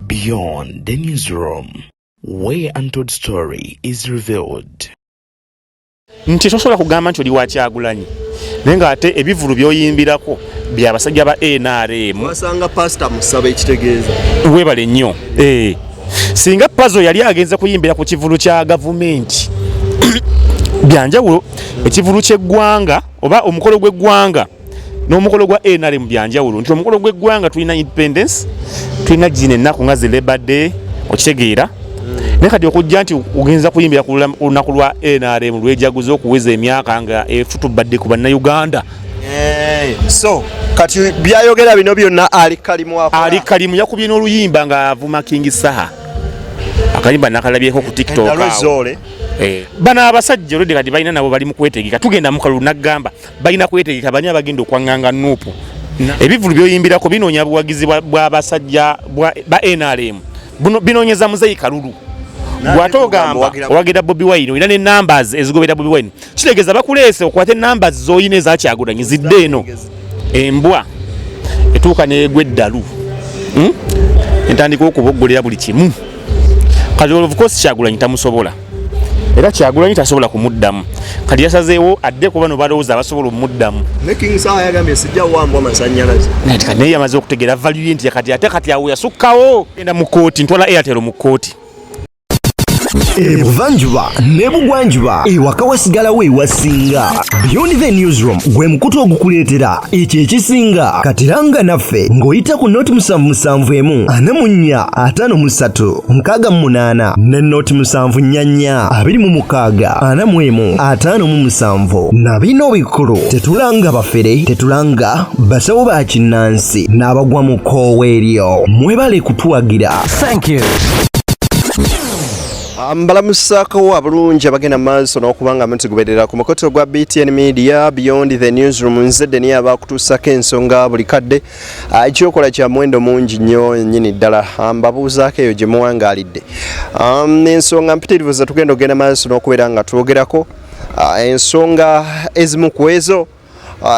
Beyond the newsroom, where untold story is revealed. nti tosobola kugamba nti oli wakyagulanyi naye nga ate ebivulu byoyimbirako byabasajja ba nrm wasanga pasita musaba ekitegeeza webale nnyo eh. singa pazo yali agenze kuyimbira ku kivulu kya gavumenti byanjawulo ekivulu kyeggwanga oba omukolo gweggwanga n'omukolo gwa nrm byanjawulo nti omukolo gweggwanga tulina independence tulina gina ennaku nga zi labor day okitegeera hmm. naye kati okujja nti ogenza kuyimbira ku lunaku lwa nrm lwejaguza okuweza emyaka nga efutubadde ku bannayuganda so kati byayogera bino byonna ali kalimu ali kalimu yakubye n'oluyimba ng'avuma kingi saha akayimba nakalabyeko ku tiktok eh. bano abasajja olwedde kati balina nabo bali mu kwetegeka tugenda mu kalulu nagamba balina kwetegeka bani abagenda okwanganga nuupu ebivulu byoyimbirako binoonya buwagizi bwabasajja ba nrm binoonyeza muzeyi kalulu gwate ogamba owagira bobi wine olina ne numbers ezigobera bobi wine kitegeeza bakuleese okwate namba zoyina ezakyagulanyi zidde eno embwa etuuka negwa eddalu hmm? entandika okuboggolera buli kimu kati olwovukosi kyagulanyi tamusobola era kyagulanyi tasobola kumuddamu kati yasazeewo adde kuba no balowooza abasobola omuddamu naye yamaze okutegeera valuye nti kati ate kati awo yasukkawo enda mu kooti ntwala airtel mu kooti ebuvanjuba nebugwanjuba ewaka wasigalawo ewasinga beyond the newsroom gwe mukutu ogukuleetera ekyo ekisinga katiranga naffe ng'oyita ku noti musanvu musanvu emu ana mu nnya ataano mu ssatu nkaaga mu munaana ne noti musanvu nnya nnya abiri mu mukaaga ana mu emu ataano mu musanvu na bino bikulu tetulanga bafere tetulanga basawo ba kinnansi n'abagwa mu koowa eryo mwebale kutuwagira Thank you. Ah, mbalamusako abulungi abagenda maaso n'okuba nga mutugoberera ku mukoto gwa btn media beyond the newsroom nze deni abakutuusako ensonga buli kadde ah, ekyokola kya muwendo mungi nnyo nyini ddala ah, mbabuuzaako eyo gye muwangaalidde um, ensonga mpitirivu ze tugenda okugenda maaso n'okubeera nga twogerako ensonga ezimu ku ezo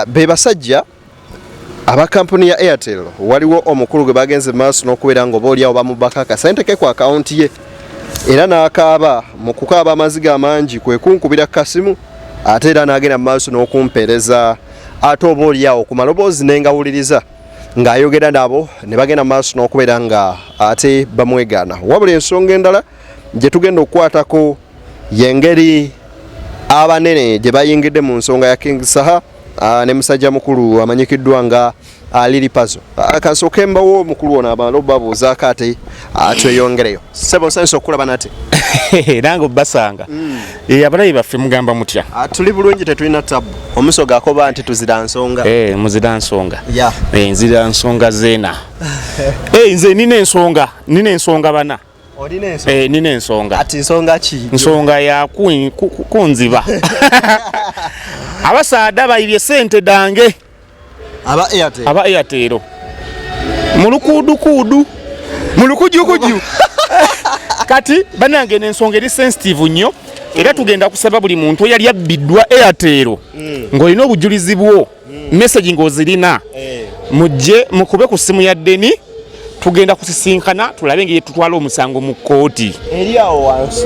be basajja Aba kampuni ya Airtel waliwo omukulu gwe bagenze maaso n'okubeera nga oba olyawo bamubaka akasente ke ku akawunti ye era n'akaaba mu kukaaba amaziga amangi kwe kunkubira kasimu ate era n'agenda mu maaso n'okumpeereza ate oba olyawo ku maloboozi ne ngawuliriza ng'ayogera nabo ne bagenda mu maaso n'okubeera nga ate bamwegaana wabula ensonga endala gye tugenda okukwatako y'engeri abanene gye bayingidde mu nsonga ya King Saha Ah, ne musajja mukulu amanyikiddwa nga ah, Lili Pazo. Ah, Kansooke mbawo mukulu ono abantu obabuuzaako ate tweyongereyo. Ssebo nsanyusa okukulaba nate. Nange obbasanga. Mm. Eh, abalayi baffe mugamba mutya? Tuli bulungi tetulina tabu. Omusoga akoba nti tuzira nsonga. Eh, muzira nsonga. Eh, nzira nsonga zeena. Eh, nze nina ensonga, nina ensonga bana. olina ensonga eh nina ensonga ati nsonga ki nsonga ya kunziba abasaada bayibye sente dange aba airtel aba airtel mulukudu kudu mulukuju kuju kati banange nensonga eri sensitive nyo era tugenda kusaba buli muntu eyali abbidwa airtel mm. ng'olina obujulizi bwo hmm. message ng'ozirina eh. mujje mukube ku simu ya deni tugenda kusisinkana tulabe ngeri tutwala omusango mu kkooti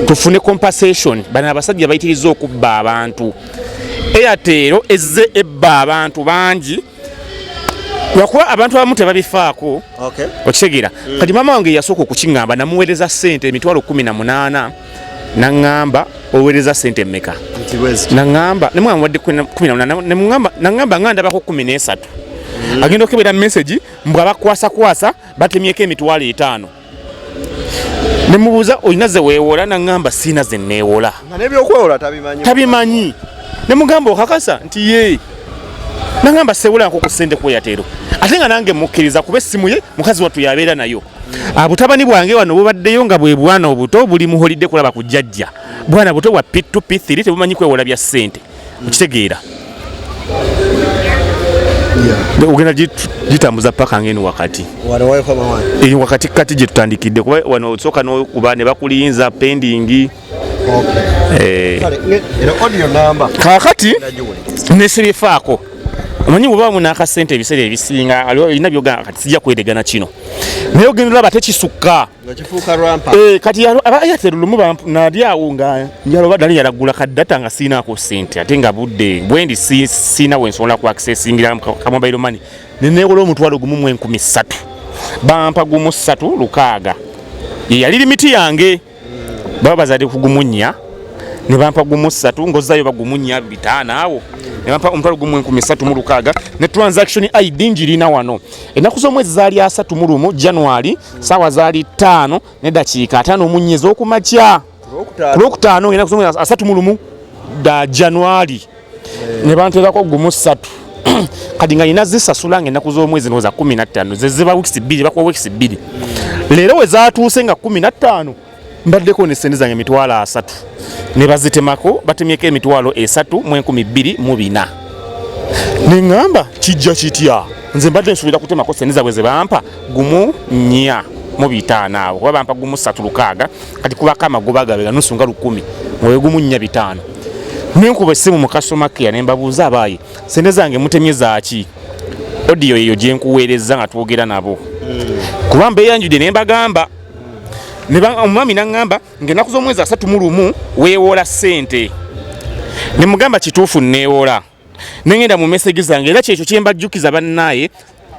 tufune compensation bano abasajja bayitiriza okubba abantu eyateero ezze ebba abantu bangi lwakuba abantu abamu tebabifaako okitegeera hmm. kati maama wange yasooka okukiŋamba namuweereza ssente emitwalo kumi na munaana naŋŋamba oweereza sente mmeka naŋŋamba nemwamuwadde kumi namunana naŋŋamba nga ndabako kumi n'esatu mm. agenda okukebera mesagi mbu abakwasakwasa batemyeko emitwalo etaano nemubuuza olina ze weewola naŋŋamba siina ze neewola tabimanyi nemugamba okakasa nti yee nangamba sewula nko kusende kuyateero ate nga nange mukkiriza kuba essimu ye mukazi wattu yabeera nayo abutabani ah, bwange wano bubaddeyo nga bwe bwana obuto buli muholidde kulaba ku jjajja bwana buto bwa p2 p3 tebumanyi kwewola bya ssente okitegeera ogenda gitambuza paka ngeni wakati eyo wakati kati gyetutandikidde kuba wano osooka nokuba ne bakuliyinza pendingi Eh. kakati nesibifaako omanyi bweba muna akasente ebiseera ebisinga alina byogamba kati sijja kwedegana kino naye ogenda olaba tekisukka eh, kati airtel lumu nali awo nga njaloba dali yalagula kaddata nga siinaako sente ate nga budde bwendi siina wensobola ku accessingira kamobairo mani nenewola omutwalo gumu mu enkumi ssatu bampa gumu ssatu lukaaga yeyali limiti yange baba bazadde kugumunya ne bampa gumu ssatu ngozzayo bagumunya bitaano awo ne bampa omutwalo gumu enkumi ssatu mu lukaaga ne transaction id ngirina wano ennaku z'omwezi zaali asatu mu lumu january saawa zaali ttaano ne dakiika ataano omunnya ez'okumakya ku lwokutaano ennaku z'omwezi asatu mu lumu da january ne banteerako gumu ssatu kati nga nina zisasula nga ennaku z'omwezi noza kumi nattaano zeziba wikisi bbiri bakuwa wikisi bbiri leero we zatuuse nga kumi nattaano mbaddeko ne sente zange emitwalo asatu ne bazitemako batemyeko emitwalo esatu mu enkumi bbiri mu bina ne ŋŋamba kijja kitya nze mbadde nsuubira kutemako sente zabwe ze bampa gumu nnya mu bitaano abo kuba bampa gumu ssatu lukaaga kati kubako amagoba gabe ganusu nga lukumi mwoyo gumu nnya bitaano nenkuba essimu mu customer care ne mbabuuza abaayi sente zange mutemye zaaki odiyo eyo gye nkuweerezza nga twogera nabo kuba mbeeyanjude ne mbagamba omwami naŋŋamba ng'ennaku z'omwezi asatu mu lumu weewoola ssente ne mugamba kituufu nneewoola nengenda mu message zange era kyekyo kyembajjukiza bannaaye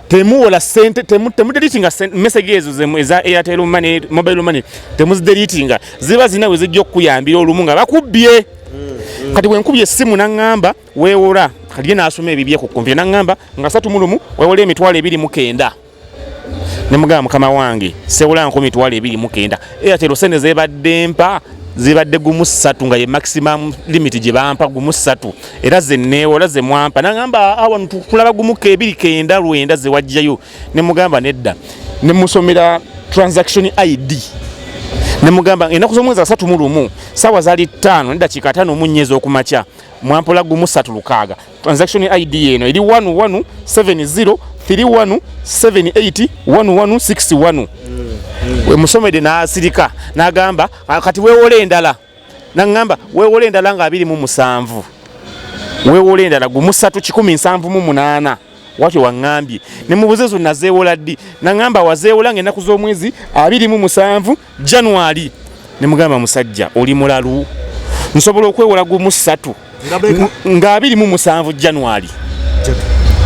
temuwola sente temudelitinga message ezo eza airtel money mobile money temuzidelitinga ziba zina we zijja okukuyambira olumu nga bakubbye mm-hmm. kati bwenkubye essimu naŋŋamba weewora kati ye n'asoma ebibye ku kompyuta naŋŋamba nga satu mu lumu weewola emitwalo ebiri mu kenda ne mugamba mukama wange sewula nkumi twala ebiri mukenda era tero sente zebadde mpa zibadde gumu ssatu nga ye maximum limit gye bampa gumu ssatu era ze neewola ze mwampa nagamba awa ah, tukulaba gumu kebiri kenda lwenda ze wajjayo ne mugamba nedda ne musomera transaction id ne mugamba enaku z'omwezi asatu mu lumu saawa zaali ttaano nedakiika ataano mu nnya ez'okumakya mwampola gumu ssatu lukaaga transaction id eno eri 11703178161 wemusomede nasirika nagamba ah, kati wewola endala naŋamba wewola endala nga abiri mu musanvu wewola endala gumusatu kikumi nsanvu mu munaana watyo waŋambye nemubuze zo nazewola ddi naŋamba wazewola nga enaku z'omwezi abiri mu musanvu January ne mugamba musajja oli mulalu nsobola okwewola gumu ssatu nga abiri mu musanvu January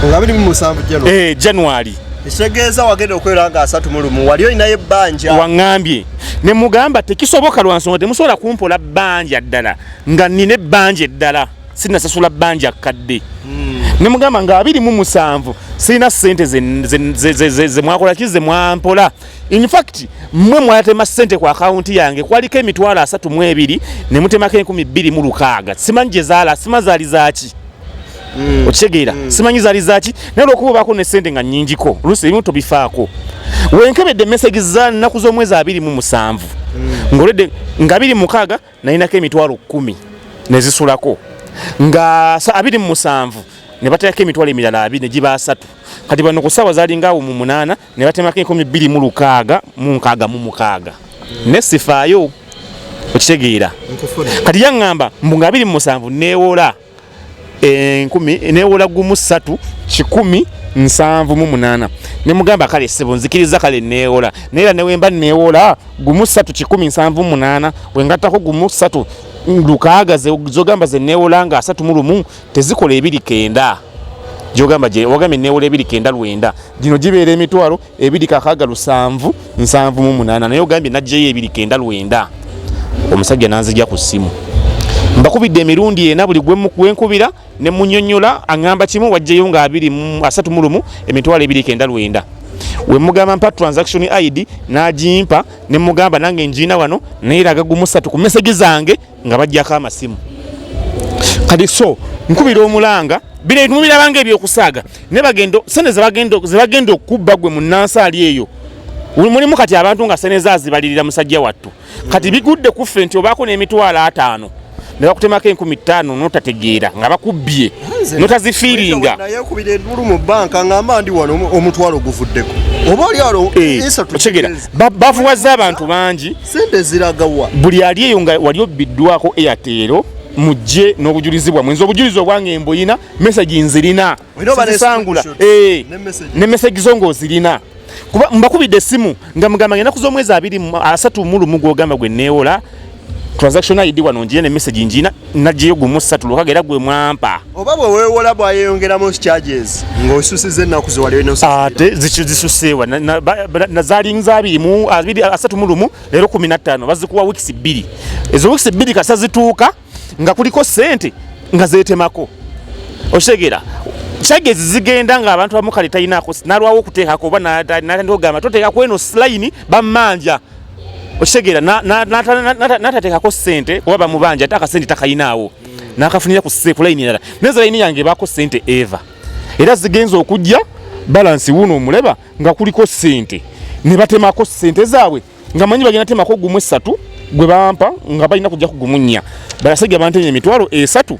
nga abiri mu musanvu January eh January ekitegeeza wagenda okwera nga asatu mu lumu wali olinayo ebbanja waŋŋambye ne mugamba tekisoboka lwa nsonga temusobola kumpola bbanja ddala nga nina ebbanja eddala sinasasula bbanja kkadde hmm. ne mugamba nga abiri mu musanvu sirina ssente zemwakola ki zemwampola In fact mwe mwatema sente kwa account yange kwaliko emitwalo asatu mu ebiri ne mutemako enkumi bbiri mu lukaaga simanyi gye zaala sima zaali zaaki mm. okitegeera mm. simanyi zaali zaaki naye olwokuba obaako ne sente nga nnyingiko oluusi ebimu tobifaako wenkebedde emesegi za nnaku z'omwezi abiri mu musanvu mm. ngoledde nga biri mukaaga nalinako emitwalo kkumi ne zisulako nga abiri mu musanvu ne bateekako emitwalo emirala abiri ne giba asatu kati bano ku ssaawa zaali ngaawo mu munaana ne batemako enkumi bbiri mu lukaaga mu nkaaga mu mukaaga ne sifaayo okitegeera kati yaŋŋamba mbu nga biri mu musanvu neewola enkumi eh, neewola gumu ssatu kikumi nsanvu mu munaana ne mugamba kale ssebo nzikiriza kale neewola naye era newemba neewola gumu ssatu kikumi nsanvu mu munaana wengattako gumu ssatu lukaaga zogamba ze neewola nga asatu mu lumu tezikola ebiri kenda gyogamba gye wagambye neewola ebiri kenda lwenda gino gibeera emitwalo ebiri kakaaga lusanvu nsanvu mu munaana naye ogambye najjeyo ebiri kenda lwenda omusajja nanzija ku ssimu mbakubidde emirundi ena buli gwenkubira ne munyonyola aŋŋamba kimu wajjeyo nga abiri asatu mu lumu emitwalo ebiri kenda lwenda wemugamba mpa transaction id nagimpa nemugamba nange njiina wano nayeraga gumusatu ku mesegi zange nga bajjako amasimu kati so nkubira omulanga bino ebimu birabanga ebyokusaaga naye bagenda sente zebagenda okukubba gwe mu nansaali eyo mulimu kati abantu nga sente zazibalirira musajja wattu kati bigudde kuffe nti obaako n'emitwalo ataano ne bakutemako enkumi ttaano notategeera nga bakubbye notazifiiringa nayekubira endulu mu banka ngamba ndi wano omutwalo guvuddeko oba oli alo eh, otegera bavuwaza abantu bangi sente ziragawa buli ali eyo nga wali obbiddwako eyateero mujje n'obujulizi bwamwe nze obujulizi obwange mbuyina mesagi nzirina sangula eh, ne mesagi zo ngaozirina kuba mbakubidde essimu nga mugamba ngenda kuza omwezi abiri asatu mulumu gwogamba gwe neewola transaction id wano njiye ne mesagi njina nagiyo gumu satu lukage era gwe mwampa oba bwe weewola bwayeyongeramu charges ng'osusiza ennaku zewaliate zisuseewa nazalinza abiri mu abiri asatu mu lumu leero kumi na ttaano bazikuwa wiikisi bbiri ezo wiikisi bbiri kasa zituuka nga kuliko sente nga zeetemako okitegeera charges zigenda nga abantu abamu kale talinaako nalwawo okuteekako oba natandika okugamba toteeka kweno silayini bammanja okitegeera natateekako sente kuba bamubanja ate akasente takayinaawo nakafunira kulayini erala neza layini yange ebaako sente eva era zigenza okujja balansi wuno omuleba nga kuliko sente ne batemako sente zaabwe nga manyi bagenda temako gumu esatu gwe bampa nga balina kujja kugumunya balasajja bantenya emitwalo esatu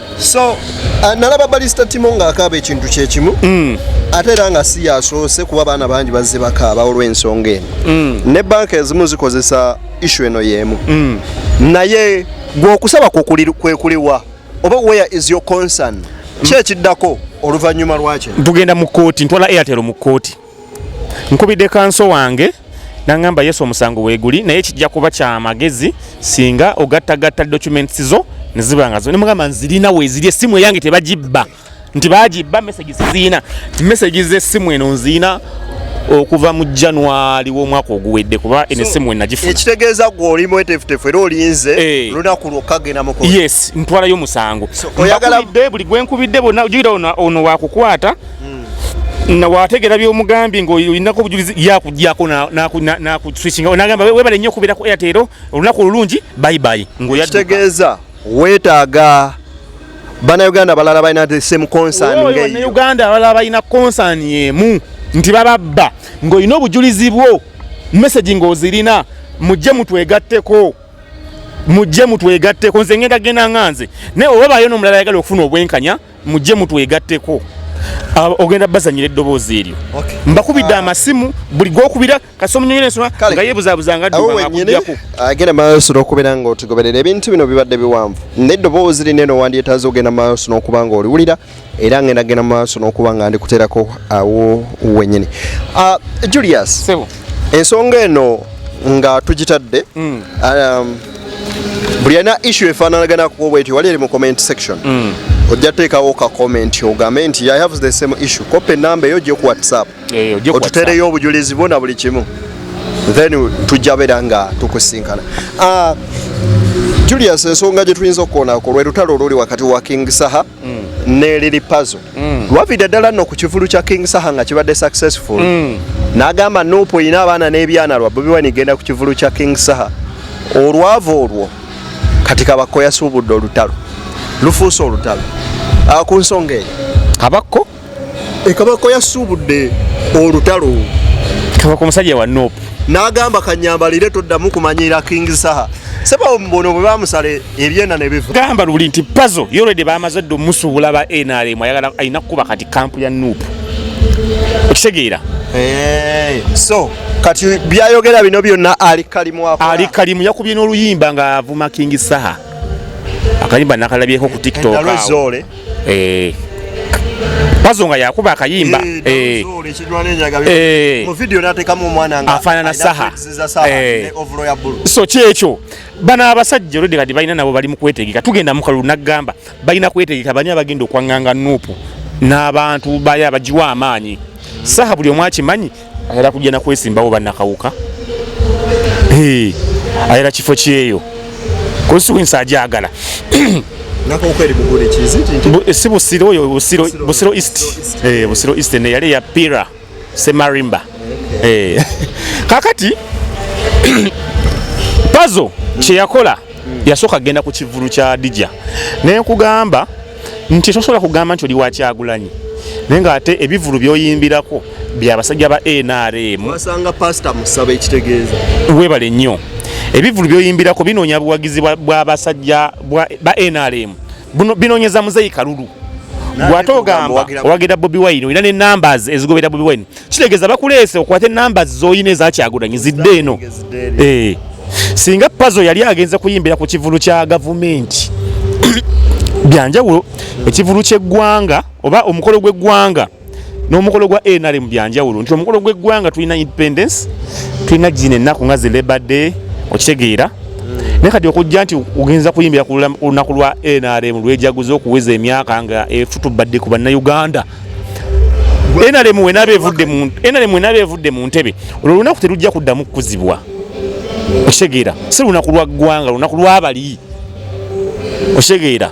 so uh, nalaba balista timo ng'akaaba ekintu kyekimu mm. ate era nga si yasoose kuba baana bangi bazze bakaaba olw'ensonga eno mm. ne banka ezimu zikozesa ishu eno y'emu mm. naye gweokusaba kwekuliwa oba where is your concern kyekiddako oluvannyuma lwakyo tugenda mu kkooti ntwala airtel mu kkooti nkubidde kanso wange nangamba yesu omusango weguli naye kijja kuba kyamagezi singa ogattagatta documents zo neziba nga nemugamba nzirina weziri essimu eyange tebagibba nti bagibba message ziziina message z'essimu eno nziina okuva mu january w'omwaka oguwedde kuba eno essimu enagifuna ekitegeeza gwe oli mwetefutefu era olinze eh. olunaku lwokka genda mu yes ntwalayo omusango oyagala buli gwenkubidde bona ojukira ono wakukwata na wategera byomugambye ngaolinako obujulizi yakujjako nakuswisinga nagamba webale nnyo okubeera ku airtel olunaku olulungi bayibayi ngkitegeeza wetaaga banauganda abalala balina the same concern banauganda abalala balina concern emu nti bababba ng'olina obujulizi bwo message ng'ozirina mujje mutwegatteko mujje mutwegatteko nze ngenda genda nga nze naye oba bayo n'omulala ayagala okufuna obwenkanya mujje mutwegatteko ogenda bazanyira eddoboozi eryo mbakubidde ah. amasimu buli gwokubira kasomunyonyerensoma nga yebuzabuza nga dduakuddako agenda maaso n'okubeera nga otugoberera ebintu bino bibadde biwanvu naye eddoboozi lino eno wandyetaaza ogenda maaso n'okuba nga oliwulira era ngenda genda maaso n'okuba nga ndikuteerako awo wenyini ah, julius Sebo. ensonga eno nga tugitadde mm. um, buli alina issu efaananaganako bwetyo wali eri mu comment section mm. ojja teekawo ka comment ogambe nti i have the same issue kopa enamba eyo gye ku whatsapp otutereyo obujulizi bwo na buli kimu then tujja beera nga tukusinkana ah, julius ensonga gye tuyinza okukoonako lwe lutalo oluli wakati wa king saha mm. ne lili pazo mm. wavide dala no ku kivulu kya king saha nga kibadde successful mm. nagamba nupo ina abaana n'ebyana lwa bobi wine igenda ku kivulu kya king saha olwavo olwo kati kabakko yasuubudde olutalo lufuuse olutalo ah, ku nsonga eyo kabakko ekabako yasuubudde olutalo kabako omusajja wa nop n'agamba kanyambalire toddamu kumanyiira king saha saba omubono bwe bamusala ebyenda ne biva gamba luli nti pazo yolwedde bamaze dde omusuubula ba nrm ayagala alina kukuba kati kampu ya nup okitegeera eh, so kati byayogera bino byonna ali kalimu ali kalimu yakubye n'oluyimba ng'avuma king saha akayimba nakalabyeko ku tiktok eh, pazo nga yakuba akayimba eh, eh, afanana saha so kyekyo bano abasajja olwedde kati balina nabo bali mukwetegeka tugenda mukalulu nagamba balina kwetegeka bani abagenda okwanganga nupu n'abantu bayo abagiwa amaanyi saha buli omu akimanyi ayala kujja nakwesimbawo banakawuka ayala kifo kyeyo kusiwinsa ajagala si busiro oyo busiro east eh, busiro east neyali ya pira semarimba eh. kakati pazo kyeyakola yasooka kugenda ku kivulu kya dija nenkugamba nti tosobola kugamba nti oli wakyagulanyi naye nga ate ebivulu byoyimbirako byabasajja ba nrm wasanga pasita musaba ekitegeeza webale nnyo ebivulu byoyimbirako binoonya buwagizi bwabasajja ba nrm binoonyeza muzeyi kalulu gwate ogamba owagira bobi wine olina ne numbers ezigobera bobi wine kitegeeza bakuleese okwate namba zoyina ezakyagulanyi zidde eno eh. singa pazo yali agenze kuyimbira ku kivulu kya gavumenti byanjawulo ekivulu kyeggwanga oba omukolo gweggwanga n'omukolo gwa nrm byanjawulo nti omukolo gweggwanga tulina independence tulina gina ennaku nga zilebade okitegeera naye kati okujja nti ogenza kuyimbira ku lunaku lwa nrm lwejaguza okuweza emyaka nga efutubadde ku bannayuganda enalemu wenaaba evudde mu enalemu wenaaba evudde mu ntebe olwo lunaku terujja kuddamu kukuzibwa okitegeera si lunaku lwa ggwanga lunaku lwabali okitegeera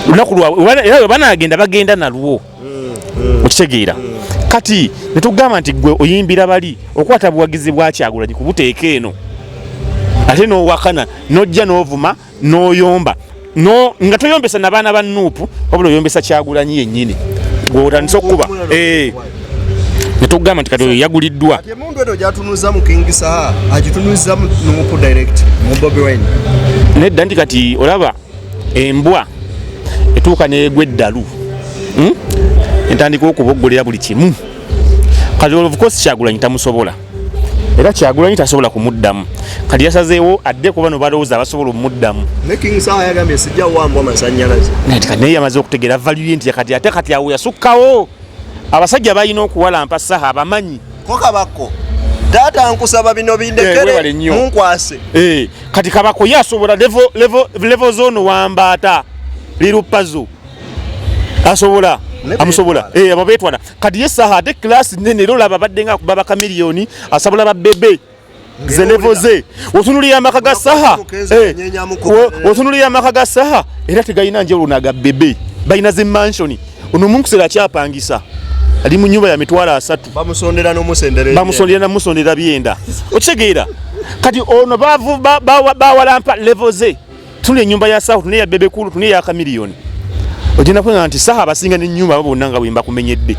lunaku lwaera webanagenda bagenda nalwo okitegeera kati netugamba nti gwe oyimbira bali okwata buwagizi bwakyagulanyi kubuteeka eno ate nowakana nojja novuma noyomba no nga toyombesa na bana ba nupu wabula oyombesa kyagulanyi yenyini gwotandisa okukuba eh. netugamba nti kati yaguliddwa nedda nti kati olaba embwa etuuka negwa eddalu hmm? entandika okuboggolera buli kimu kati olwovukosi kyagulanyi tamusobola era kyagulanyi tasobola kumuddamu kati yasazeewo adde kuba no balowooza abasobola omuddamu naye yamaze okutegeera valuye nti kati ate kati awo yasukkawo abasajja balina okuwalampa saha abamanyi kokabako taata nkusaba bino bindekere eh, munkwase eh, kati kabako ye asobola levo zone wambaata lirupazo asobola amusobola eh, abo betwana kati ye saha ate class nene era olaba abadde nga akuba bakamiliyoni asabula babebe zelevo ze otunulira amaka ga saha eh, otunulira amaka ga saha era tegalina njawulo naga bebe balina ze mansioni ono omunkusera akyapangisa ali mu nyumba ya mitwalo asatu bamusondera namusondera byenda okitegeera kati ono bawalampa levo ze tuna enyumba ya sahu tuna eya bebekulu tuna eya kamiliyoni ogenda kuwena nti saha abasinga nenyumba abo bonna nga bwembakumenyedde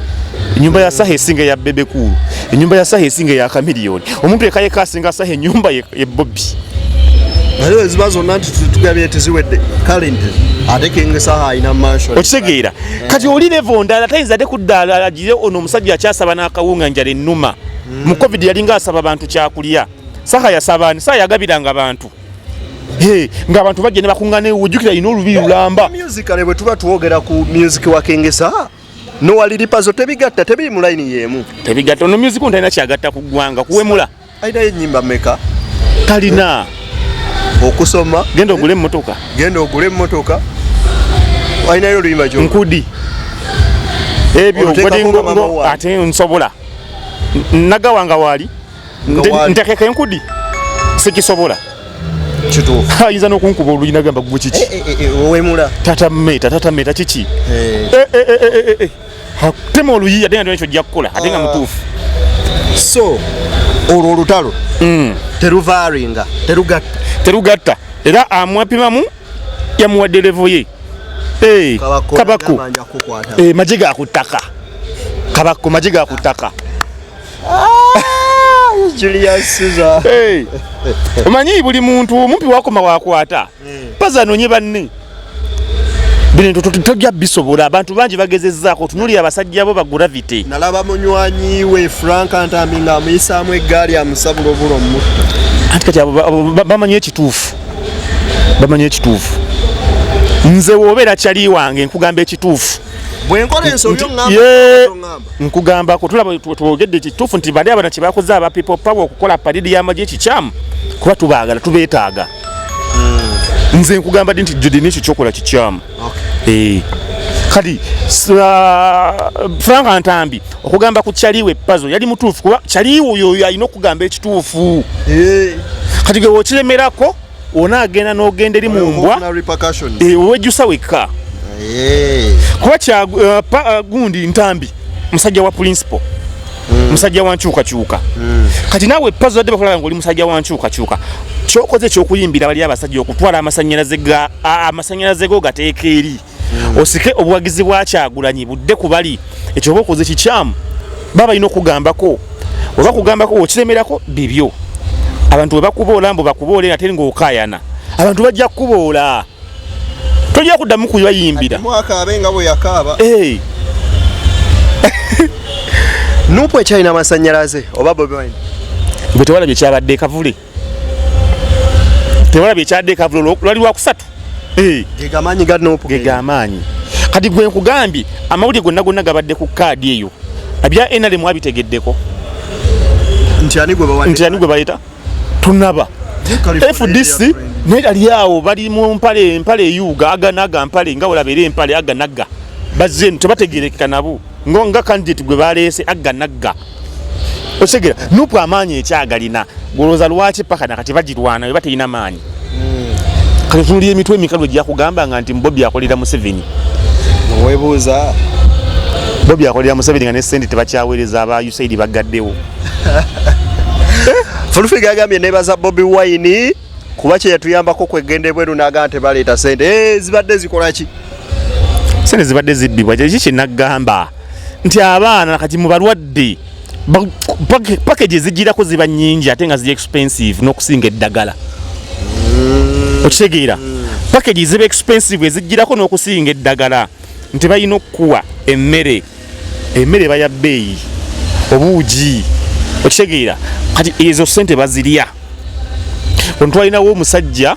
enyumba ya saha esinga eya bebekulu enyumba ya saha esinga eya kamiliyoni omuntu ekayeka asinga saha enyumba ye bobi naye eziba zonna nti tugabye teziwedde kale nti ate kinga saha alina mansion okitegeera kati oli levo ndala tayinza ate kuddaala alagire ono omusajja akyasaba n'akawunga njala ennuma mu covid yalinga asaba bantu kyakulya saha yasaba ani saha yagabiranga bantu Hey, nga abantu bajja ne bakungana ewo jukira ino olubi lulamba. Music ale bwe tuba tuwogera ku music wa Kengesa. No wali lipazo tebigatta tebiri mu line yemu. Tebigatta no music on taina kyagatta ku gwanga kuwemula. Aida yenyimba meka. Talina. Okusoma. Genda ogule mmotoka. Genda ogule mmotoka. Aina yo luyimba jo. Nkudi. Ebyo ngodi ngo ate nsobola. Nagawanga wali. ntekeko enkudi sikisobola ayinza nokunkuba oluyi nagamba gwe kiki eh, eh, eh, wemula tata meta tata meta kiki tema oluyi ate nga ekyo jakukola ate nga ah. mutuufu so olwo olutalo mm. teruvaringa terugatta terugatta era amwapimamu yamuwadde levo ye kabako maje gakuttaka kabako maje gakuttaka omanyi buli muntu omumpi wakoma wakwata paza anonye banne bintu tojja bisobola abantu bangi bagezezaako tunulira abasajja bo bagravity nalaba munywanyi we frank ntambi nga amuyisaamu eggaali amusabula obula omutta anti kati bamanyi ekituufu bamanyi ekituufu nze wobeera kyali wange nkugamba ekituufu nkugamba kutulaba twogedde kituufu nti bali abana kyebakoze aba people power okukola paridi yamagye kikyamu kuba tubaagala tubeetaaga hmm. nze nkugamba di nti judi nekyo kyokola kikyamu eh. kati uh, frank ntambi okugamba ku kyaliwe pazo yali mutuufu kuba kyaliwe oyo alina okugamba ekituufu eh. kati gwe wokiremerako ona agenda n'ogenda eri mu mbwa wejjusa wekka kuba kyagundi ntambi musajja wa principal hmm. musajja wa nkyukakyuka hmm. kati naawe pazo badde bakulaba ngaoli musajja wa nkyukakyuka kyokoze ekyokuyimbira bali abasajja okutwala amasanyalaze go gateeka eri osike obuwagizi bwa kyagulanyi budde ku bali ekyo oba okoze kikyamu baba balina okugambako oba kugambako okiremerako bibyo abantu bwe bakuboola mbu bakuboola era teri ng'okaayana abantu bajja kukuboola tojja kuddamu kubayimbira mwakaabe nga bwe yakaaba nupu ekyalina amasanyalaze oba bobi wine gwe tewalabye kyabadde kavule tebalabye ekyadde ekavulolo lwali lwakusatu eh. gegamaanyi ganopu gegamaanyi kati gwe nkugambye amawulire gonna gonna gabadde ku kaadi eyo abya nrm abitegeddeko nti ani gwe baleeta tunaba fdc naye ali awo bali mu mpale empale eyuuga aganaga mpale nga wolabeera empale aganaga bazze tebategerekeka nabo nga kandidate gwe baleese aganaga okitegera nupu amaanyi ekyagalina golowooza lwaki paka nakati bagirwana eba terina maanyi hmm. kati tunulira emitwe emikalu egyakugamba nga nti bobi akolera museveni webuuza bobi akolera museveni nga nesente tebakyaweereza aba usaid bagaddewo fulufiga agambye nebaza bobi wine kuba kyeyatuyambako kwegenda ebweru naga nti baleeta sente eh, zibadde zikolaki sente zibadde zibbibwa kyeki kyenagamba nti abaana kati mu balwadde package ezigirako ziba nyingi ate nga ziri expensive n'okusinga eddagala mm. okitegeera package ziba expensive ezigirako n'okusinga eddagala nti balina okukuwa emmere emmere baya bbeeyi obuugi okitegeera kati ezo sente bazirya ontwalinawo omusajja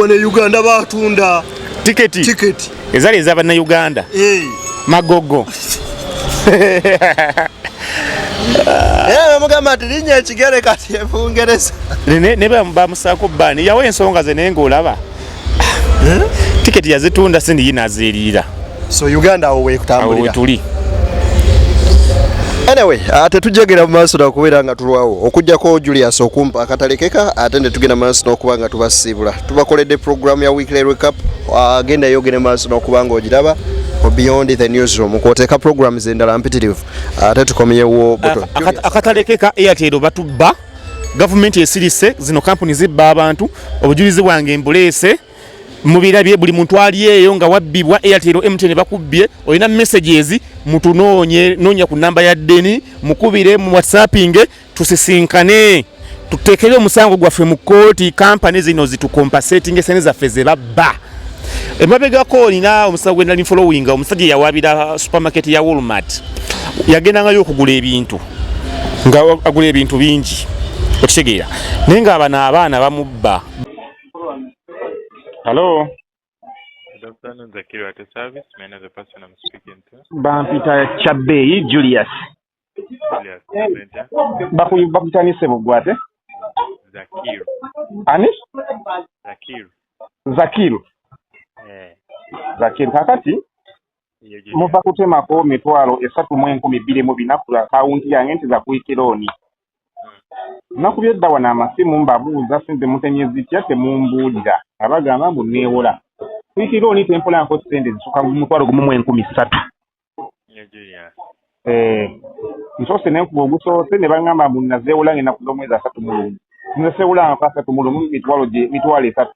wano e uganda batunda tiketi tiketi ezali eza bannayuganda hey. Eh. magogo bamugamba eh, nti linnya ekigere kati ebungereza ne bamusaako baani yawo ensonga ze naye ngaolaba eh? tiketi yazitunda sindi yinazeeriira so uganda awo wekutambulira tuli anyway ah, tetujagera mu maaso nakubeera nga tulwawo okujjako julius okumpa akatalekeka ate ne tugenda maaso n'okuba nga tubasiibula tubakoledde programu ya weekly recap ah, genda yogere maaso n'okuba nga ogiraba beyond the newsroom kwoteeka programu zendala mpitirivu ate ah, tukomyewo akatalekeka airtel batubba gavumenti esirise zino kampuni zibba abantu obujulizi bwange mbuleese mubirabye buli muntu ali eyo nga wabbibwa airtel mtn bakubbye olina messages mutunoonye noonya ku namba ya deni mukubire mu whatsappinge tusisinkane tutekere omusango gwaffe mu kooti kampani zino zitukompasetinga esene zaffe zebabba emabegako olina omusawo gwenali following omusajja yawabira supermarket ya walmart yagendangayo okugula ebintu nga agula ebintu bingi okitegeera naye nga abano abaana bamubba Hello. Good afternoon, Zakiri at service. May I know the person I'm speaking to? Bampita Chabeyi Julius. Julius, Benta. Bakuyu bakuta ni sebo gwate. Zakir. Ani? Zakir. Zakir. Eh. Zakir kakati. Muva kutemako mitwalo esatu mu enkumi bbiri mu bina ku akawunti yange nti za kuikironi. nakubye dda wano amasimu mbabuuza sente mutenye zitya temumbuulira nga bagamba mbu neewola kuikirira oni tempolanko sente zisuka mutwalo gumu mu enkumi ssatu eh, nsoose nenkuba ogusoose ne bagamba mbu nazeewola ngenda kuda omwezi asatu mulumu nze sewola nfa asatu mulumu mitwalo mitwalo esatu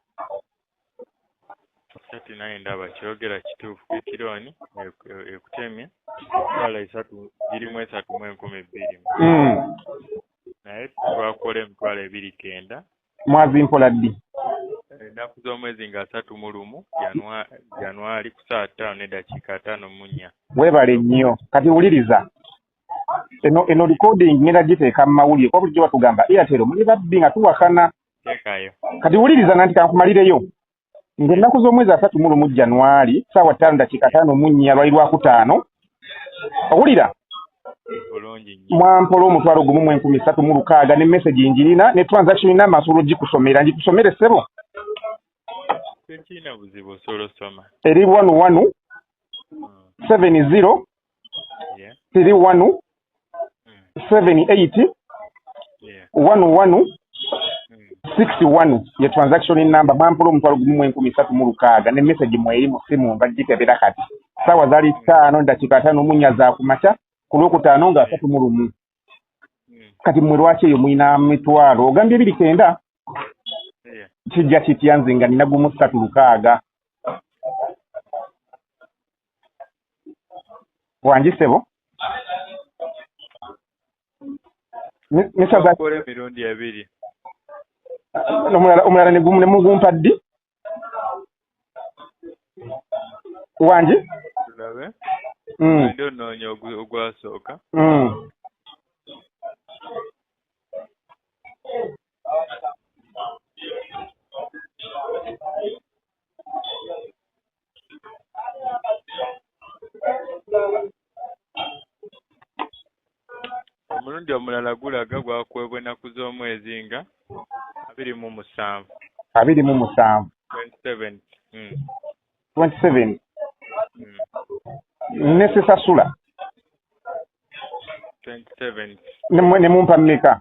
Kati naye ndaba kyogera kituufu kekironi ekutemye twala esatu girimu esatu mu enkumi bbiri hmm. naye twakola emitwalo ebiri kenda mwazi mpola ddi ennaku z'omwezi nga asatu mu lumu januari ku saa ttaano n'eddakiika ataano mu nnya weebale nnyo kati wuliriza eno eno recording ngenda giteeka mu mawulire kuba bulijjo batugamba airtel muli babbi nga tuwakana kati wuliriza nanti kankumalireyo ng'ennaku z'omwezi asatu mu lumu januari saawa ttaano ddakiika taano mu nnya lwali lwakutaano owulira mwampola omutwalo gumu mu enkumi satu mu lukaaga ne message njirina ne transaction ina amasolo gikusomera ngikusomere sebo eri wanu wanu hmm. seven zero tiri wanu seven eight wanu wanu six wanu ye transaction number bampula omutwalo gumu mu enkumi satu mu lukaaga ne message mweri mu simu nga gikebera kati saawa zali taano dakiika ataano munya za kumakya ku lwokutaano nga asatu mu lumu kati mwe lwaki eyo mulina mitwalo ogambye ebiri kenda kijja kitya nze nga nina gumu ssatu lukaaga wangi sebo omulala negumu nemugumpa ddi wangi tulabe mm. ndi onoonya ogwasooka mm. omulundi omulala gulaga gwakuweebwa ennaku z'omwezi nga abiri mu musanvu abiri mu musanvu hmm. hmm. ne sisasula ne mumpa mmeka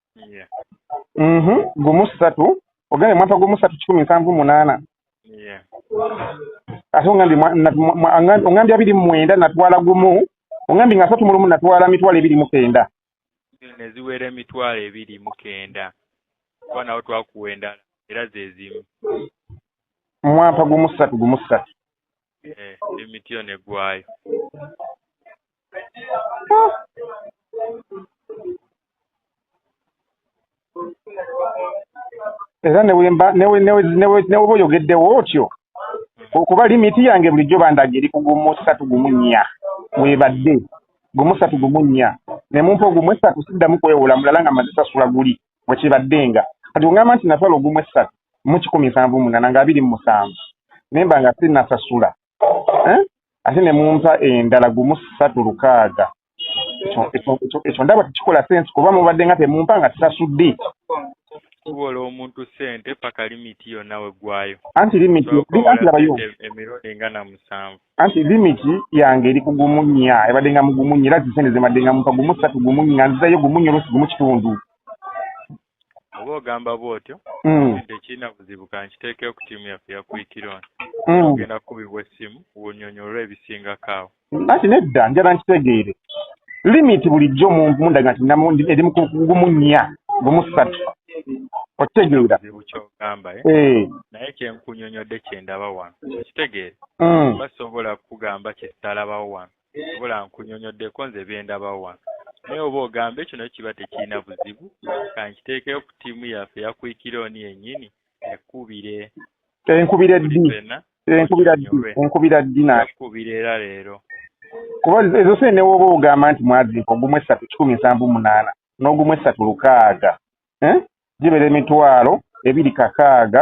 mhm, gumu satu ogende mwapa gumu satu kikumi nsanvu munaana ate ongambye abiri mumwenda natwala gumu ongambye nga asatu mulumu natwala mitwalo ebiri mukenda neziwera emitwalo ebiri mukenda kuba nawo twakuwa endala era zezimu mwampa gumu ssatu gumu ssatu eh, emiti yo negwayo era newoba oyogeddewo otyo okuba limiti yange bulijjo bandaga eri ku gumu satu gumu nnya webadde gumu satu gumu nnya nemumpa ogumu esatu siddamu kwewola mulala nga mazisasula guli bwe kibaddenga. Kati ogamba nti nasala ogumu essatu mu kikumi nsanvu mu munaana nga abiri mu musanvu ne mba nga sinnasasula eh? ate ne mumpa endala gumu ssatu lukaaga ekyo ndaba tekikola sensi kuba mubadde nga temumpa nga sasudde kuwola omuntu sente paka limiti yonna weggwayo anti limiti anti labayo emirundi nga na musanvu anti limit yange eri ku gumu nnya ebadde nga mugumu nnya era zisente zibadde nga mupa gumu ssatu gumu nnya nzizayo gumu nnya oluusi gumu kitundu oba ogamba bwotyo mm. tekirina buzibu kankiteekeo ku tiimu yaffe ya kuikiron mm. ogenda kukubibwa essimu wunyonyolwa ebisingako awo anti nedda njala nkitegeere limit bulijjo mundaga nti eri mugumu nnya gumu ssatu okitegeera eh? eh. naye kyenkunyonyodde kyendaba wano okitegeere mm. mba sobola kukugamba kyetalabawo wano sobola nkunyonyoddeko nze byendabawo wano naye oba ogambe kino kiba tekirina buzibu kankiteekeyo ku tiimu yaffe yakuikira oni yennyini ekubire enkubira ddi enkubira ddi enkubira ddi nakubira era leero kuba ezo sente newooba ogamba nti mwazinka ogumu essatu kikumi nsanvu munaana n'ogumu essatu lukaaga eh? gibeera emitwalo ebiri kakaaga